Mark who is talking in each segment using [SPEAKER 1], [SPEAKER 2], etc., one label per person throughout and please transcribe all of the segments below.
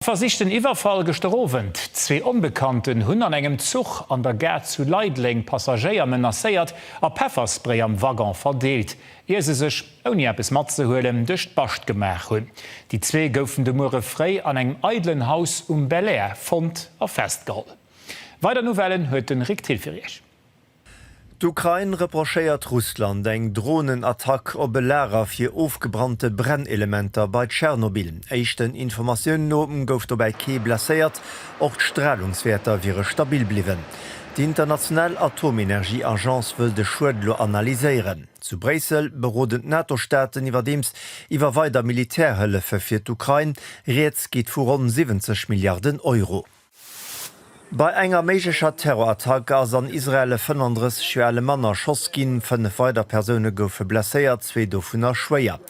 [SPEAKER 1] Versichten Iwwerfall gëschter Owend, Zwee Onbekannten hunn an engem Zuch an der Gare zu Leideleng Passagéier menacéiert a Pefferspray am Waggon verdeelt, ier se sech, ouni eppes matzehuelen, duerch d'Bascht gemaach hunn. Déi zwee goufen de Muere fréi an engem eidelen Haus um Belair fonnt a festgeholl. Weider Nouvellen huet den Rick Thill fir Iech. D'Ukrain reprochéiert Russland eng Dronenattack op e Lager fir ofgebrannte Brennelementer bei Tschernobyl. Éischten Informatiounen no gouf dobäi kee blesséiert, och d'Stralungswäerter wiere stabil bliwwen. Déi international Atomenergieagence wëll de Schued elo analyséieren. Zu Bréissel beroden d'NATO-Staaten iwwerdeems iwwer weider Militärhëllefe fir d'Ukrain. Rieds geet vu ronn 70 Milliarden Euro. Bei enger méiglecher Terrorattack ass an Israel e 35 Joer ale Mann erschoss ginn. Fënnef weider Persoune goufe blesséiert, zwee dovunner schwéier.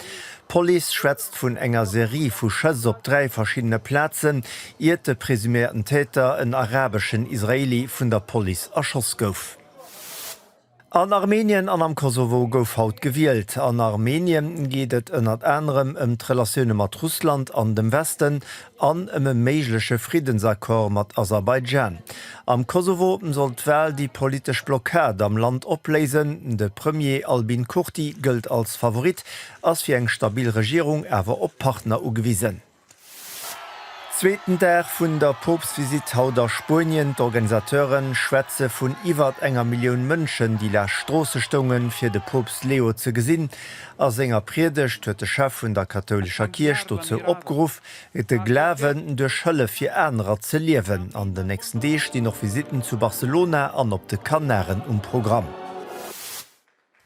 [SPEAKER 1] D'Police schwätzt vun enger Serie vu Schëss op dräi verschiddene Plazen, iert de presuméierten Täter, en arabeschen Israeli, vun der Police erschoss gouf. An Armenien an am Kosovo gouf haut gewielt. An Armenien geet et ënnert anerem ëm d'Relatioune mat Russland an dem Westen an ëm e méigleche Friddensaccord mat Aserbaidschan. Am Kosovo soll d'Wal déi politesch Blockad am Land opléisen. De Premier Albin Kurti gëllt als Favorit, ass fir eng stabil Regierung awer op Partner ugewisen. Zweeten Dag vun der Poopstvisitt haut a Spuenien. D'Organisateure schwätze vun iwwert enger Millioun Mënschen, déi laanscht d'Stroosse stoungen, fir de Poopst Leo ze gesinn. A senger Priedegt huet de Chef vun der kathoulescher Kierch dozou opgeruff, de Glawen duerch Hëllef fir anerer ze liewen. An den nächsten Deeg stinn och Visitten zu Barcelona an op de Kanaren um Programm.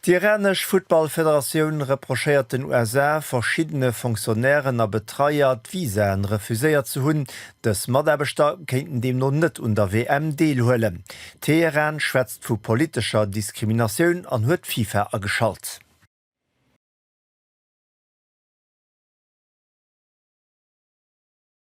[SPEAKER 1] D'iranesch Futtballfederatioun reprochéiert den USA, verschiddene Fonctionnairen a Betreier d'Visaen refuséiert ze hunn. Dës Mataarbechter kéinten deemno net un der WM deelhuelen. Teheran schwätzt vu politescher Diskriminatioun an huet d'FIFA ageschalt.